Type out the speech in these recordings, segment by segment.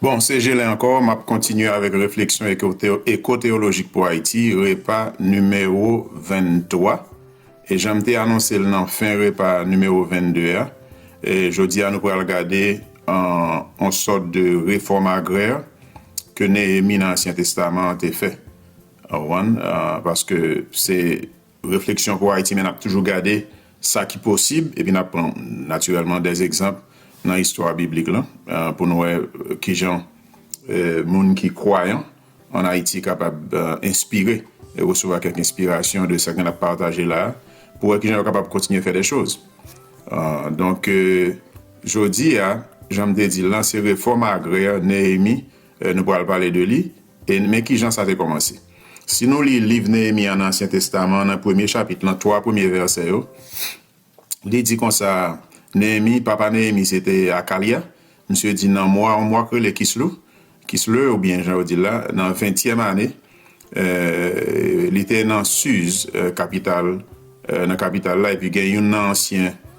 Bon, se Gelin ankò, m ap kontinye avèk refleksyon ekoteyolojik pou Ayiti, repa nimewo 23. E jan m te anonse l nan fen repa nimewo 22 a, jodi a nou pral gade yon sòt de refòm agrè ke Neyemi nan Ansyen Testaman an te fè. Ou konprann? Paske se. Refleksyon pou Ayiti men n ap toujou gade sa ki posib epi n ap pran natirèlman dè egzanp nan istwa biblik lan pou n wè ki jan moun ki kwayan ann Ayiti kapab enspire e resevwa kèk enspirasyon de sa k gen l ap pataje la a pou wè ki jan yo kapab kontinye fè dè choz. Donk, jodi a, jan m te di l lan, se refòm agrè Neyemi nou pral pale de li. E men ki jan sa te kòmanse. Si nou li liv Neyemi an nan Ansyen Testaman, nan premye chapit lan, twa premye vèsè yo, li di konsa, Neyemi, papa Neyemi se te Akalya, misye di nan mwa, yon mwa k rele Kislou, Kislew oubyen jan yo di l la, nan ventyèm ane, li te nan Siz, kapital, nan kapital la, epi gen youn nan ansyen.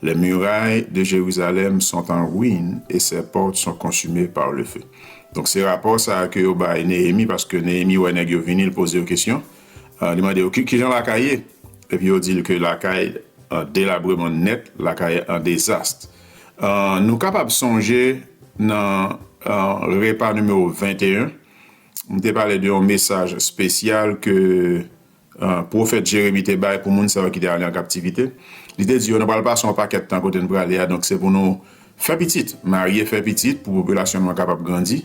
Les murailles de Jérusalem sont en ruine et ses portes sont consumées par le feu. Donk se rapò sa a ke yo bay Neyemi paske Neyemi wè nèg yo vini, l poze yo kesyon, li mande yo kijan lakay ye? Epi yo di l ke lakay an delabreman nèt, lakay an dezast. Nou kapab sonje nan repa nimewo 21, m te pale de yon mesaj espesyal ke. pwofèt Jeremi te bay pou moun sa yo ki te ale an kaptivite. Li te di yo, Nou pral pase yon pakèt tan kote n prale a, donk se pou nou fè pitit, marye, fè pitit pou popilasyon nou an kapab grandi,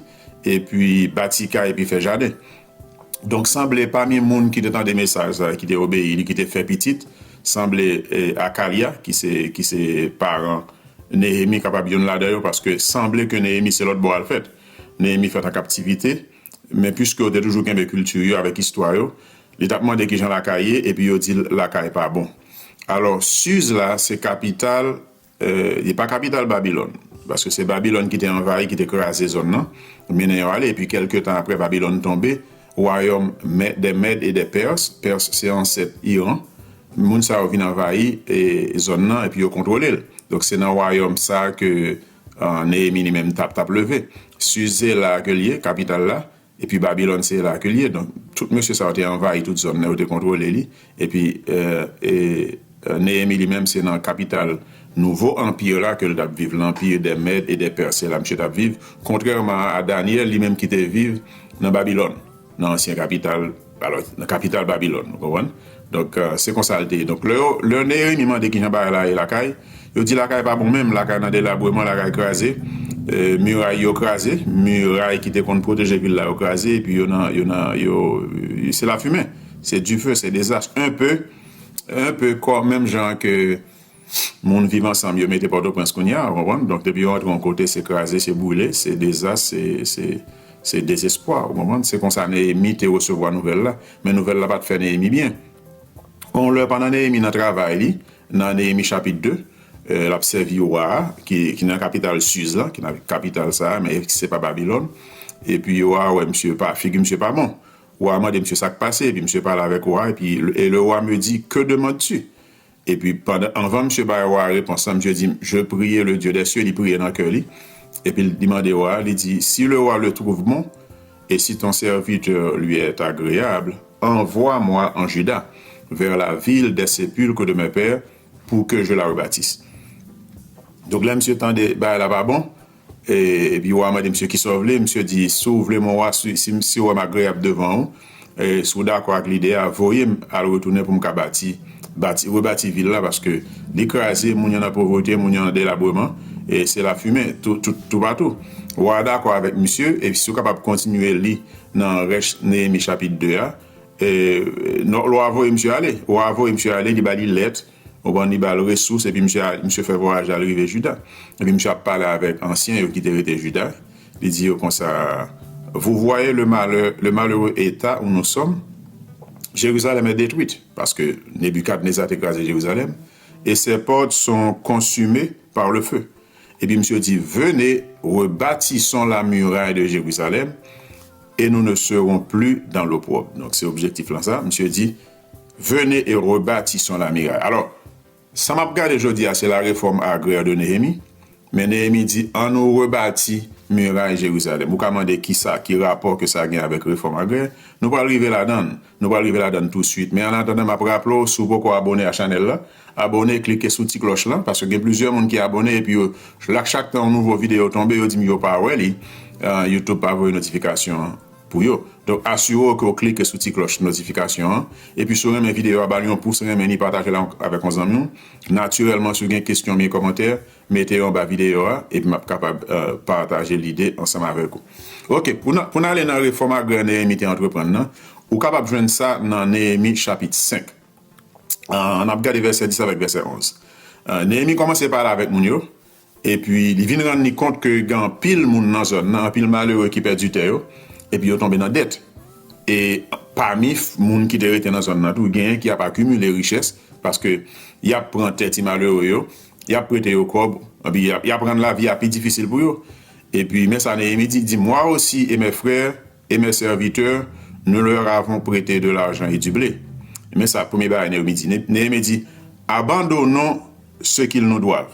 epi bati kay epi fè jaden. Donk, sanble pami moun ki te tande mesaj sa a, ki te obeyi li, ki te fè pitit, sanble Akalya, ki se paran Neyemi, kapab youn ladan yo, paske sanble ke Neyemi se lòtbò a l fèt. Neyemi fèt an kaptivite. Men piske yo te toujou kenbe kilti yo avèk istwa yo, li t ap mande ki jan lakay ye epi yo di l lakay pa bon. Alò, Siz la se kapital, li pa kapital Babilòn, paske se Babilòn ki te anvayi, ki te kraze zòn nan, mennen yo ale, epi kèlke tan apre Babilòn tonbe, wayòm dè Mèd e dè Pèrs, Pèrs se ansèt Iran, moun sa yo vin anvayi zòn nan epi yo kontwole l. Donk se nan wayòm sa ke. Neyemi li menm tap tap leve. Sus se la ke l ye, kapital la, epi Babilòn se la ke l ye. Donk, tout mesye sa yo te anvayi tout zòn nan, yo te kontwole li. Epi, Neyemi li menm se nan kapital nouvo anpi la ke l t ap viv, lanpi dè Mèd e dè Pès. Se la misye t ap viv, kontrèman a Dànyèl li menm ki te viv nan Babilòn. Nan ansyen kapital, alò, nan kapital Babilòn, nou konprann? Donk, se konsa l te ye. Donk, lè yo, lè Neyemi mande ki jan bagay la ye lakay, yo di lakay pa bon menm, lakay nan delabreman, lakay kraze, miray yo kraze, miray ki te konn pwoteje vil la yo kraze, epi yo nan, yo nan, yo, se lafimen, se dife, se dezas, enpe, enpe kò, menm jan ke. Moun viv ansanm yo mete pòtoprens kounya ou konprann donk depi yo antre yon kote se kraze se boule se dezas se se se dezespwa ou konprann se konsa Neyemi te resevwa nouvèl la men nouvèl la pat fè Neyemi byen yon lè pandan Neyemi nan travay li nan Neyemi chapit 2 e lap sèvi wa a ki ki nan kapital Siz la ki nan kapital sa a men se pa Babilòn epi wa a wè misye pa figi misye pa bon wa a mande misye sak pase epi misye pale avèk wa a epi e le wa a me di ke demandes tu? Epi pandan anvan misye bay wa a repons la, misye di, Je prie le Dieu des cieux, li priye nan kè li, epi li mande wa a, li di, Si le roi le trouve bon, et si ton serviteur lui est agreable, envwa mwa an Juda, vers la ville des sepulcres de mes pères, pou ke je la rebâtisse. Donk lè misye tande bagay la pa bon. Epi wa a mande misye, Kisa w vle? Misye di, Si w vle, mon wa, si wè m agreyab devan ou, e si w dakò ak lide a, voye m al retounen pou m ka bati, rebati vil la, paske li kraze, moun yo nan povrete, moun yo nan delabreman, e se lafimen toupatou. Wa a dakò avèk misye, e si w kapab kontinye li nan rès Neyemi chapit 2 a, wa a voye misye ale. Wa a voye misye ale, li ba li lèt. Konprann? Li ba l resous, epi misye al, misye fè vwayaj la, li rive Juda. Epi misye ap pale avèk ansyen yo ki te rete Juda, li di yo konsa, Vou vwaye le malè, le malere eta ou nou sòm? Jerizalèm è detwit, paske Nebikadneza te kraze Jerizalèm, e sè pòt son konsime par le fe. Epi misye di, Vene, rebatison la muray de Jerizalèm, e nou ne seron pli dan lopwòb. Donk se objektif lan sa. Misye di, Venez et rebâtissons la miraille. Alò, sa m ap gade jodi a se la Réforme agraire de Néhémie, men Néhémie di an nou rebati miray Jérusalem. Ou ka mande ki sa, ki rapò ke sa gen avèk Réforme agraire? Nou pral rive ladan l, nou pral rive ladan l tou suit. Men an atandan m ap raple w si w poko abone a chanèl la, abone, klike sou ti klòch lan, paske gen plizyè moun ki abone epi yo chak tan yon nouvo videyo tonbe yo di m yo pa wè li, Youtube pa voye notifikasyon an. Pou yo. Donk asire w ke w klike sou ti klòch notifikasyon an. Epi si w renmen videyo a ba l yon pous renmen li pataje l avèk yon zanmi w. Natirèlman si w gen kesyon oubyen kòmantè mete yo anba videyo a epi m ap kapab pataje lide ansanm avèk ou. Ok pou n ale nan refòm agrè Neyemi te antreprann nan ou kapab jwenn sa nan Neyemi chapit 5 an n ap gade vèsè 10 avèk vèsè 11. Neyemi kòmanse pale avèk moun yo. Epi li vin rann li kont ke gen anpil moun nan zòn nan, anpil malere ki pèdi tè yo, epi yo tonbe nan dèt. E pami moun ki te rete nan zòn nan tou, genyen ki ap akimile richès, paske y ap pran tè ti malere yo, y ap prete yo kòb, epi y ap rann lavi a pi difisil pou yo. Epi men sa Neyemi di, li di, Mwa osi e mè frè e mè sèvitè, nou lè avon prete de lajan e di ble. Men sa premye bagay Neyemi di, Neyemi di, Abandonon se kil nou dwav.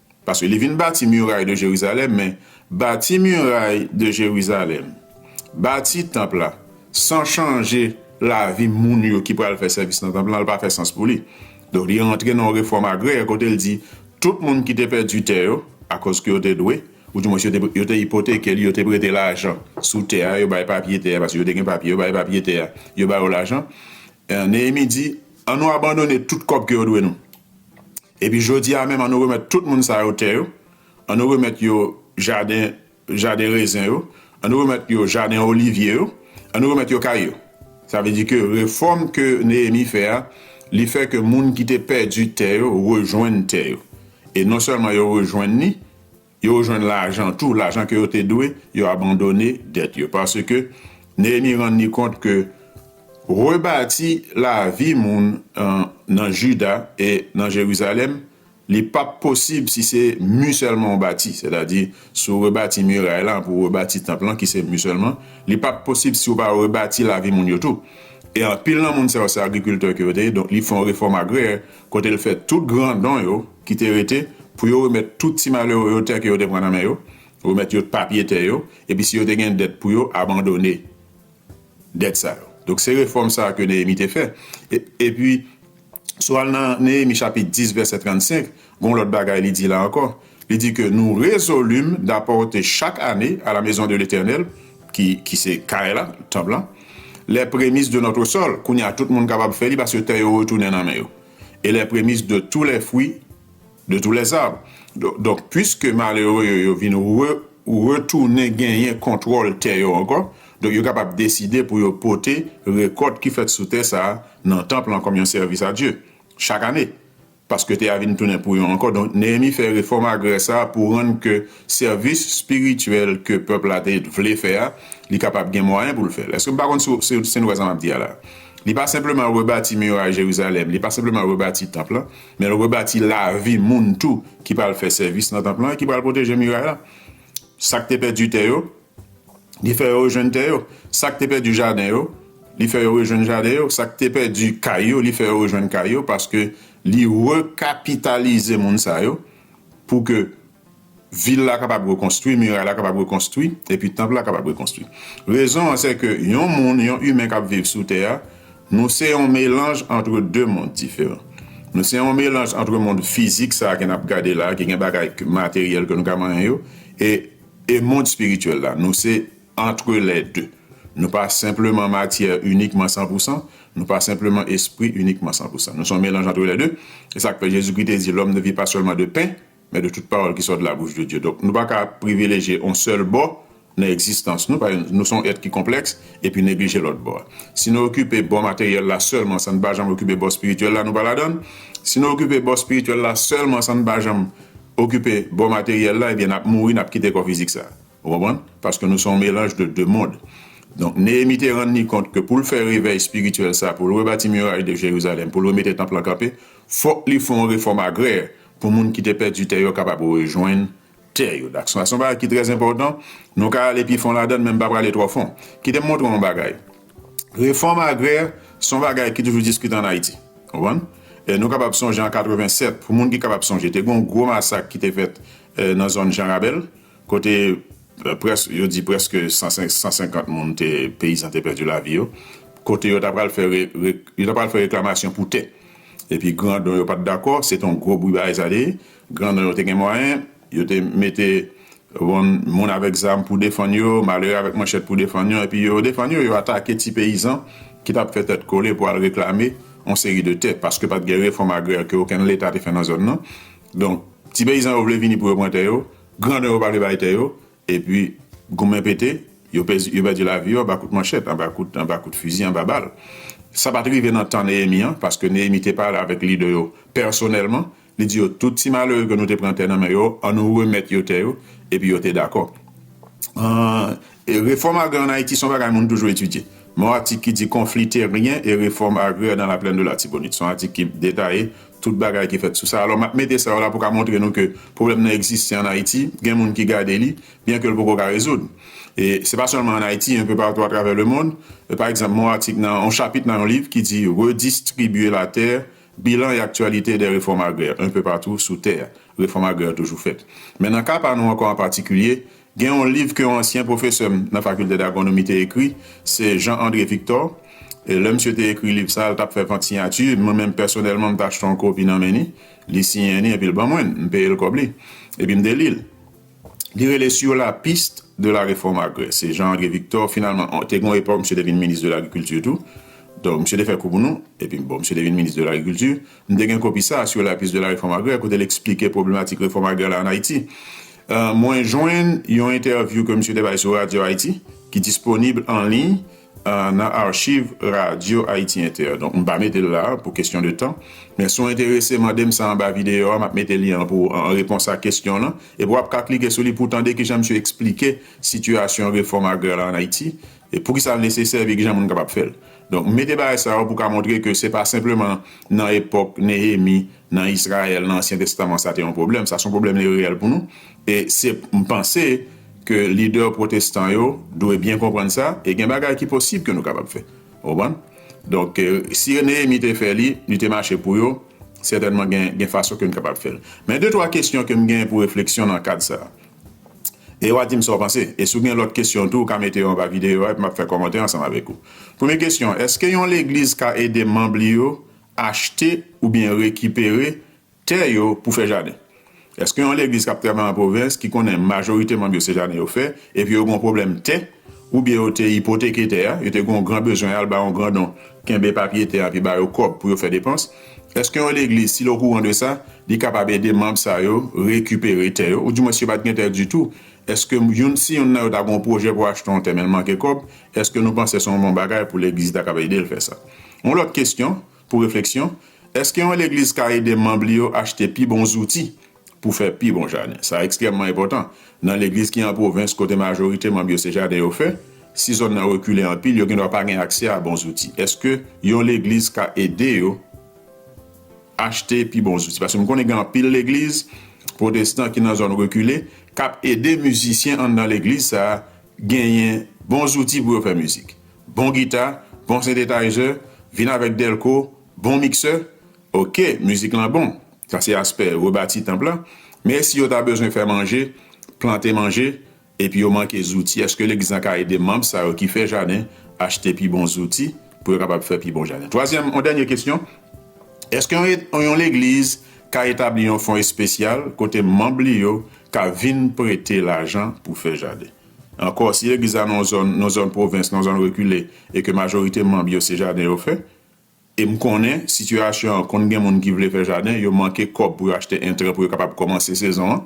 Paske li vin bati muray de Jerizalèm, men, bati muray de Jerizalèm, bati tanp la, san chanje lavi moun yo ki pral fè sèvis nan tanp lan, l pa fè sans pou li. Donk, li rantre nan yon refòm agrè, kote l di, tout moun ki te pèdi tè yo, akoz ke yo te dwe, oudimwens yo te, yo te ipoteke li, yo te prete lajan sou tè a, yo bay papye tè a, paske yo te gen papye, yo bay papye tè a, yo ba yo lajan. Neyemi di, an nou abandone tout kòb ke yo dwe nou. Epi jodi a menm, an nou remèt tout moun sa yo tè yo, an nou remèt yo jaden, jaden rezen yo, an nou remèt yo jaden olivye yo, an nou remèt yo kay yo. Sa vle di ke refòm ke Neyemi fè a, li fè ke moun ki te pèdi tè yo rejwenn tè yo. E non sèlman yo rejwenn li, Yo jwenn lajan tou, lajan ke yo te dwe, yo abandone dèt yo. Paske, Neyemi rann li kont ke rebati lavi moun nan Jida e nan Jerizalèm, li pa p posib si se mi sèlman ou bati. Sètadi, si ou rebati miray la, pou ou rebati tanp lan, ki se mi sèlman, li pa p posib si ou pa rebati lavi moun yo tou. E anpil nan moun sa yo, se agrikiltè ke yo te ye, donk li fè yon refòm agrè, kote l fè tout grandon yo ki te rete pou yo remèt tout ti malere yo tè ke yo te pran nan men yo, remèt yo papye tè yo, epi si yo te gen dèt pou yo, abandone dèt sa yo. Donk, se refòm sa a ke Neyemi te fè. E, epi, si w al nan Neyemi chapit 10 vèsè 35, gen yon lòt bagay li di la ankò. Li di ke nou rezolim dapòte chak ane a la mezon de Letènèl, ki, ki se kay la, tanp lan, lè premis de nòtre sòl, kounye a tout moun kapab fè li paske tè yo retounen nan men yo, e lè premis de tou lè fwi, de tou lè zab. Don, donk, pwiske malere yo, yo vin re, retounen genyen kontwòl tè yo ankò, donk yo kapab deside pou yo pote rekòt ki fèt sou tè sa a nan tanp lan kòm yon sèvis a Dye, chak ane. Paske tè a vin tounen pou yo ankò. Donk, Neyemi fè refòm agrè sa a pou rann ke sèvis espirityèl ke pèp la te vle fè a, li kapab gen mwayen pou l fè l. Èske m pa konn si w si n wè sa m ap di a la a? Li pa senpleman rebati miray Jerizalèm, li pa senpleman rebati tanp lan, men l rebati lavi moun tou ki pral fè sèvis nan tanp lan e ki pral pwoteje miray la. Sa k te pèdi tè yo, Li fè yo rejwenn tè yo. Sa k te pèdi jaden yo, li fè yo rejwenn jaden yo. Sa k te pèdi kay yo, li fè yo rejwenn kay yo. Paske li rekapitalize moun sa yo pou ke vil la kapab rekonstwi, miray la kapab rekonstwi, epi tanp la kapab rekonstwi. Rezon an sèke yon moun, yon imen k ap viv sou tè a, nou se yon melanj antre de mond diferan. Nou se yon melanj antre mond fizik sa a ke n ap gade la a, ki gen bagay materyèl ke nou ka manyen yo, e E mond espirityèl la? Nou se entre les deux. Nou pa senpleman matyè inikman san pou san, nou pa senpleman espri inikman san pou san. Nou se yon melanj entre les deux. E sa k fè Jezikri te di, Lòm ne vi pa sèlman de pen, men de tout pawòl ki sò de labouch de Dye. Donk, nou pa ka privilejye yon sèl bò nan egzistans nou, paske nou se yon èt ki konplèks, epi neglije lòt bò a. Si nou okipe bò materyèl la sèlman san n pa janm okipe bò espirityèl la, nou pa ladan l. Si nou okipe bò espirityèl la sèlman san n pa janm okipe bò materyèl la ebyen nap mouri nap kite kò fizik sa ou konprann paske nou se yon melanj de 2 mond donk Neyemi te rann li kont ke poul fè revèy espirityèl sa poul rebati miray de Jerizalèm poul remete tanp lan kanpe fòk li fè yon refòm agrè pou moun ki te pèdi tè yo kapab rejwenn tè yo dak sa se yon bagay ki trè enpòtan nou ka ale pi fon ladann men m pa prale twò fon kite m montre w yon bagay. Refòm agrè se yon bagay ki toujou diskite an Ayiti. Konprann? Nou kapab sonje an 87, pou moun ki kapab sonje, te gen yon gwo masak ki te fèt nan zòn Jan Rabèl, kote près, yo di prèske 150 moun te, peyizan te pèdi lavi yo, kote yo ta pral fè re, re, yo ta pral fè reklamasyon pou tè. Epi grandon yo pa t dakò, se te yon gwo bri bagay sa te ye. Grandon yo te gen mwayen. Yo te mete wonn moun avèk zam pou defann yo, malere avèk manchèt pou defann yo, epi yo defann yo, yo atake ti peyizan ki t ap fè tèt kole pou al reklame yon seri de tè, paske pa t gen refòm agrè ke okenn leta te fè nan zòn nan. Donk, ti peyizan yo vle vini pou yo pran tè yo, grandon yo pa vle bay tè yo, Epi, goumen pete, yo pèdi lavi yo anba kout manchèt, anba kout fizi, anba bal. Sa pa t rive nan tan Neyemi an, paske Neyemi te pale avèk lidè yo pèsonèlman, li di yo, Tout ti malere ke nou te pran tè nan men yo, annou remèt yo tè yo, epi yo te dakò. Refòm agrè ann Ayiti se yon bagay moun toujou etidye. Men yon atik ki di Konfli teryen e refòm agrè nan laplèn de Latibonit. Se yon atik ki detaye. Tout bagay ki fèt sou sa. Alò, m ap mete sa yo la pou ka montre nou ke pwoblèm nan egziste ann Ayiti. Gen moun ki gade li, byen ke l poko ka rezoud. E se pa sèlman ann Ayiti, enpe patou atravè lemonn. Pa egzanp, m wè yon atik nan yon chapit nan yon liv ki di Redistribuer la terre, bilan et actualités des réformes agraires un peu partout sous terre. Refòm agrè yo toujou fèt. Men nan ka pa nou ankò an patikilye, Gen yon liv ke yon ansyen pwofesè m nan Fakilte Dagwonomi te ekri, se Jean André Victor. Lè misye te ekri liv sa a, l t ap fè vant siyati. Mwen menm pèsonèlman, m t achte yon kopi nan men li. Li siyen li epi l ban mwen l. M peye l kòb li. Epi m te li l. Li rele Sur la piste de la réforme agraire. Se Jean André Victor. Finalman, te gen yon epòk misye te vin minis de lagrikilti tou. Donk, misye te fè kou pou nou. Epi, bon, misye te vin minis de lagrikilti. M te gen kopi sa a Sur la piste de la réforme agraire kote l esplike pwoblematik refòm agrè la an Ayiti. Mwen jwenn yon entèvyou ke misye te bay sou Radyo Ayiti ki disponib an liy nan archiv Radyo Ayiti Entè. Donk m pa mete l la a pou kesyon de tan. Men si w enterese mande m sa anba videyo a m ap mete lyen an pou ou an repons a kesyon w lan. Epi w ap ka klike sou li pou w tande kijan misye esplike sitiyasyon refòm agrè la an Ayiti, poukisa l nesesè epi kijan moun kapab fè l. Donk, m mete bagay sa yo pou ka montre ke se pa senpleman nan epòk Nehemi, nan Israël, nan Ansyen Testaman sa te yon pwoblèm, sa se yon pwoblèm li reyèl pou nou. E se, m panse, ke lidè pwotestan yo dwe byen konprann sa, e gen bagay ki posib ke nou kapab fè. Ou konprann? Donk, si Nehemi te fè li, li te mache pou yo, sètènman gen, gen fason ke n kapab fè l. Men de twa kesyon ke m gen pou refleksyon nan kad sa a. e wa dim sa w panse e si w gen lòt kesyon tou ou ka mete yo anba videyo a epi map fè kòmantè ansanm avèk ou. Premye kesyon, èske yon legliz ka ede manb li yo achte oubyen rekipere tè yo pou fè jaden? Èske yon legliz kap travay an pwovens ki konnen majorite manb yo se jaden yo fè epi yo gen yon pwoblèm tè, Oubyen yo te ipoteke tè a, yo te gen yon gran bezwen al ba yon grandon kenbe papye tè a epi ba yo kòb pou yo fè depans. Èske yon legliz, si l okouran de sa, li kapab ede manb sa yo rekipere tè yo? Oudimwen si yo pa t gen tè ditou, èske youn si youn nan yo ta gen yon pwojè pou achte yon tè men l manke kòb, èske nou panse se yon bon bagay pou legliz ta kapab ede l fè sa? Yon lòt kesyon pou refleksyon, Èske yon legliz ka ede manb li yo achte pi bon zouti pou fè pi bon jaden. Sa ekstrèmman enpòtan. Nan legliz ki an pwovens, kote majorite manm yo se jaden yo fè, si zòn nan rekile anpil, yo gendwa pa gen aksè a bon zouti. Èske yon legliz ka ede yo achte pi bon zouti? Paske m konnen gen anpil legliz pwotestan ki nan zòn rekile k ap ede mizisyen anndan legliz sa a genyen bon zouti pou yo fè mizik, bon gita, bon sentetayizer, vin avèk dèlko, bon miksè. Ok, mizik lan bon. Sa se aspè rebati tanp la. Men si yo ta bezwen fè manje, plante manje, epi yo manke zouti, èske legliz lan ka ede manm sa yo ki fè jaden achte pi bon zouti pou yo kapab fè pi bon jaden? Twazyèm, yon dènye kesyon, Èske yon yon legliz ka etabli yon fon espesyal kote manm li yo ka vin prete lajan pou fè jaden? Ankò, si legliz la nan yon zòn, nan yon zòn pwovens, nan yon zòn rekile, e ke majorite manm yo se jaden yo fè, E m konnen sitiyasyon an konn gen moun ki vle fè jaden, yo manke kòb pou yo achte entran pou yo kapab kòmanse sezon an.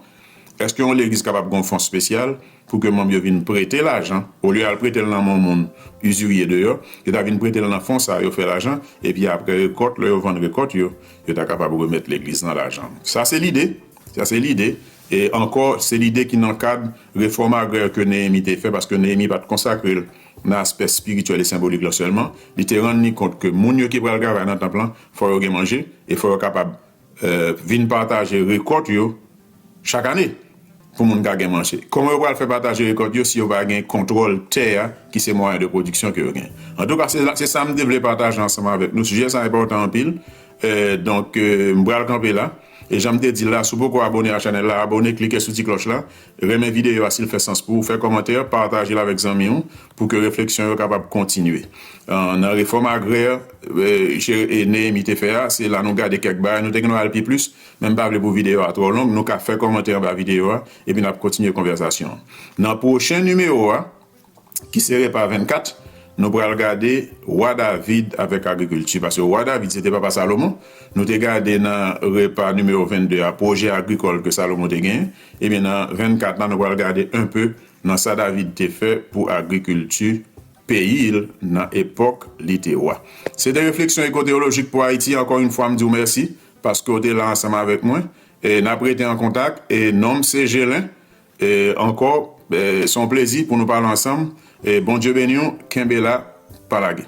Èske yon legliz kapab gen yon fon spesyal pou ke manm yo vin prete lajan, olye yo al prete l nan men yon moun izirye deyò, yo ta vin prete l nan fon sa a, yo fè lajan, epi apre rekòt, lè yo vann rekòt yo, yo ta kapab remèt legliz lan lajan an. Sa se lide, sa se lide. E ankò, se lide ki nan kad refòm agrè ke Neyemi te fè, paske Neyemi pa t konsakre l nan aspè espirityèl e senbolik lan sèlman, li te rann li kont ke moun yo ki pral travay nan tanp lan fò yo gen manje e fò yo kapab vin pataje rekòt yo chak ane pou moun ka gen manje. Kòman yo pral fè pataje rekòt yo si yo pa gen kontwòl tè a ki se mwayen de pwodiksyon ke yo gen? Antouka, se sa m te vle pataje ansanm avèk nou. Sijè sa enpòtan anpil, donk m pral kanpe la. E jan m te di l la, si w poko abone a chanèl la, abone, klike sou ti klòch la, Renmen videyo a si l fè sans pou ou, fè kòmantè, pataje l avèk zanmi ou pou ke refleksyon yo kapab kontinye. Nan refòm agrè Neyemi te fè a, se la nou gade kèk bagay, nou te gen dwa al pi plis, men m pa vle pou videyo a twò long, nou ka fè kòmantè anba videyo a, epi n ap kontinye konvèsasyon an. Nan pwochen nimewo a, ki sere pa 24, nou pral gade wa David avèk agrikilti, paske wa David se te papa Salomon, nou te gade nan repa nimewo 22 a pwojè agrikòl ke Salomon te genyen, ebyen nan 24 la nou pral gade enpe nan sa David te fè pou agrikilti peyi'l nan epòk li te wa. Se te Refleksyon Eko-Teyolojik pou Ayiti, ankò yn fwa m di'w mèsi paske'w te la ansanm avèk mwen, e n'ap rete an kontak, e non'm se Gelin, Ankò se yon plezi pou nou pale ansanm Bondye beniw kenbe la pa lage.